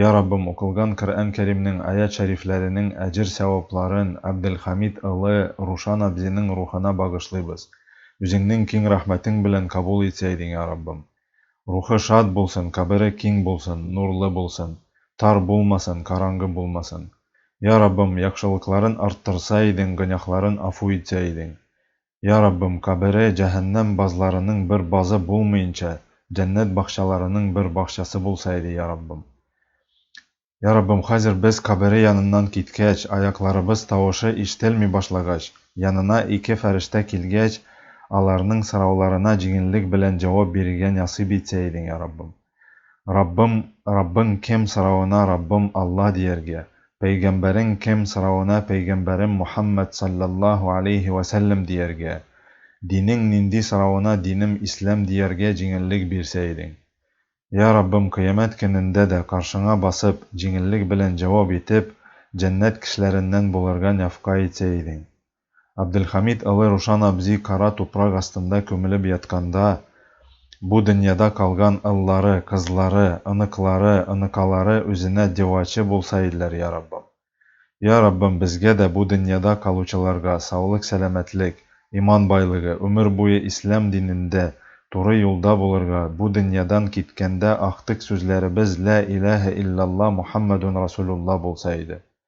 Йа Раббым, укылган Коръән Кәримнең аять-шәрифләренең әҗер-сәвапларын Абделхамид ылы Рушан абзиның рухына багышлыйбыз. Үзеңнең киң рәхмәтең белән кабул итсә идең, йа Раббым. Рухы шат булсын, кабере киң булсын, нурлы булсын, тар булмасын, караңгы булмасын. Йа Раббым, яхшылыкларын арттырса идең, гөнаһларын афу итсә идең. Я Раббым, кабере җәһәннәм базларының бер базы булмыйнча, җәннәт бакчаларының бер бакчасы булса иде, Я Раббым. Я Раббым, хәзер без кабере яныннан киткәч, аякларыбыз тавышы ишетелми башлагач, янына ике фәрештә килгәч, аларның сорауларына җиңеллек белән җавап бирергә нәсыйп итсә идең, Я Раббым. Раббым, Раббың кем соравына Раббым Алла дияргә, Пәйгамбәрең кем соравына Пәйгамбәрем Мухаммәд салләллаһу алейһи вә сәлләм дияргә, Динең нинди соравына Динем Ислам дияргә җиңеллек бирсә идең. Йә Раббым, кыямәт көнендә дә каршыңа басып, җиңеллек белән җавап итеп, җәннәт кешеләреннән булырга нәфкай итсә идең. Абделхамид Олы Рушан абзи кара тупрак астында күмелеп ятканда, бу дөньяда калган ыллары, кызлары, оныклары, оныкалары үзенә девачы булса иделәр, я Раббым. Я Раббым, безгә дә, бу дөньяда калучыларга, саулык-сәламәтлек, иман байлыгы, үмер буе ислам динендә, туры юлда булырга, бу дөньядан киткәндә актык сүзләребез Лә иләһә иллялла Мухаммәдун Расулулла булса иде.